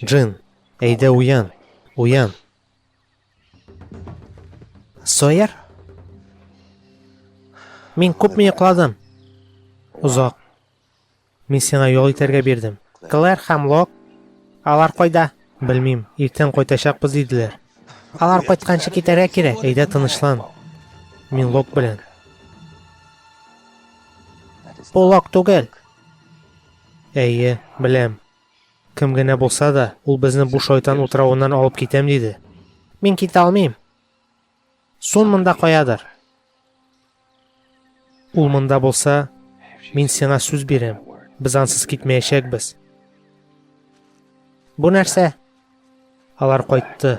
Джин, әйдә уян, уян. Сойер? Мин күпме йокладым? Озак. Мин сиңа ял итәргә бирдем. Клэр һәм Лок, алар кайда? Белмим, иртән кайтачакбыз диделәр. Алар кайтканчы китәргә кирәк, әйдә тынычлан. Мин Лок белән. Бу Лок түгел. Әйе, беләм. Кем генә булса да, ул безне бу шайтан утравыннан алып китәм диде. Мин китә алмыйм. Сон монда каядыр. Ул монда булса, мин сиңа сүз бирәм. Без ансыз китмәячәкбез. Бу нәрсә? Алар кайтты.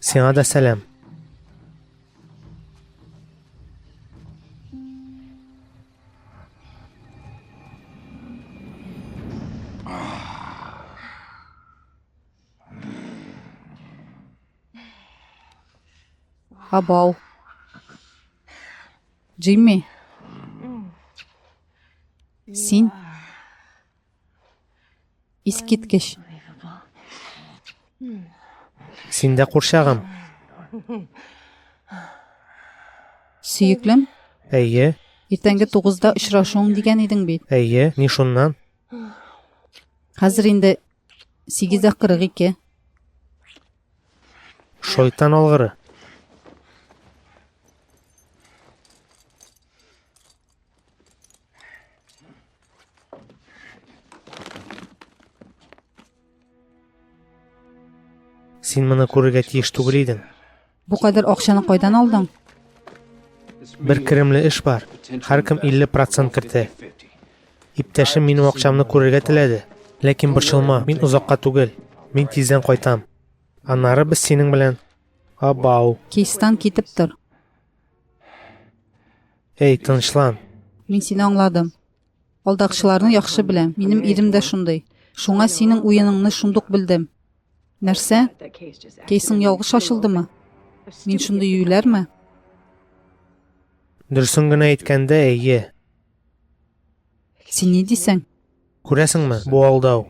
Сиңа да сәлам. Абау. Джимми. Син Искиткеч. Син дә курчагым. Сөеклем? Әйе. Иртәнге тугызда очрашуың дигән идең бит. Әйе, ни шуннан? Хәзер инде сигез дә кырык ике. Шайтан алгыры. Син моны күрергә тиеш түгел идең. Бу кадәр акчаны кайдан алдың? Бер керемле эш бар. Һәркем 50% кертә. Иптәшем минем акчамны күрергә теләде. Ләкин борчылма, мин озакка түгел. Мин тиздән кайтам. Аннары без синең белән Абау. Кейстан китеп тор. Эй, тынычлан. Мин сине аңладым. Алдакчыларны яхшы беләм. Минем ирем дә шундый. Шуңа синең уеныңны шундук белдем. Нәрсә? Кейсың ялгыш ачылдымы? Мин шундый юйләрме? Дөресен генә әйткәндә, әйе. Син ни дисең? Күрәсеңме, бу алдау.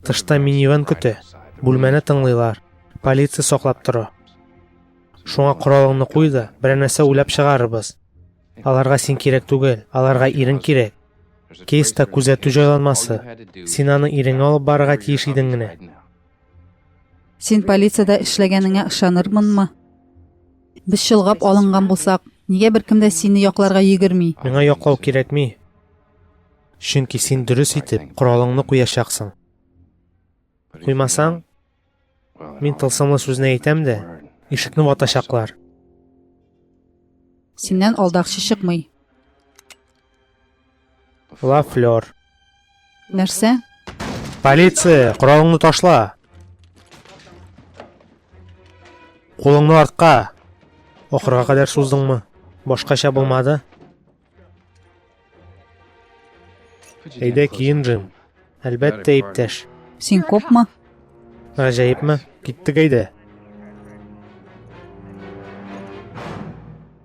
Тышта минивэн көтә, бүлмәне тыңлыйлар, полиция саклап тора. Шуңа коралыңны куй да, берәр нәрсә уйлап чыгарырбыз. Аларга син кирәк түгел, аларга ирең кирәк. Кейста күзәтү җайланмасы. Син аны ирең алып барырга тиеш идең генә. Син полициядә эшләгәнеңә ышанырмынмы? Без чолгап алынган булсак, нигә беркем дә сине якларга йөгерми? Миңа яклау кирәкми. Чөнки син дөрес итеп коралыңны куячаксың. Куймасаң, мин тылсымлы сүзне әйтәм дә, ишекне ватачаклар. Синнән алдакчы чыкмый. Ла флёр. Нәрсә? Полиция, коралыңны ташла. Кулыңны артка. Ахырга кадәр суздыңмы? Башкача булмады. Әйдә киен, Джим. Әлбәттә, иптәш. Син копма? Гаҗәепме? Киттек әйдә.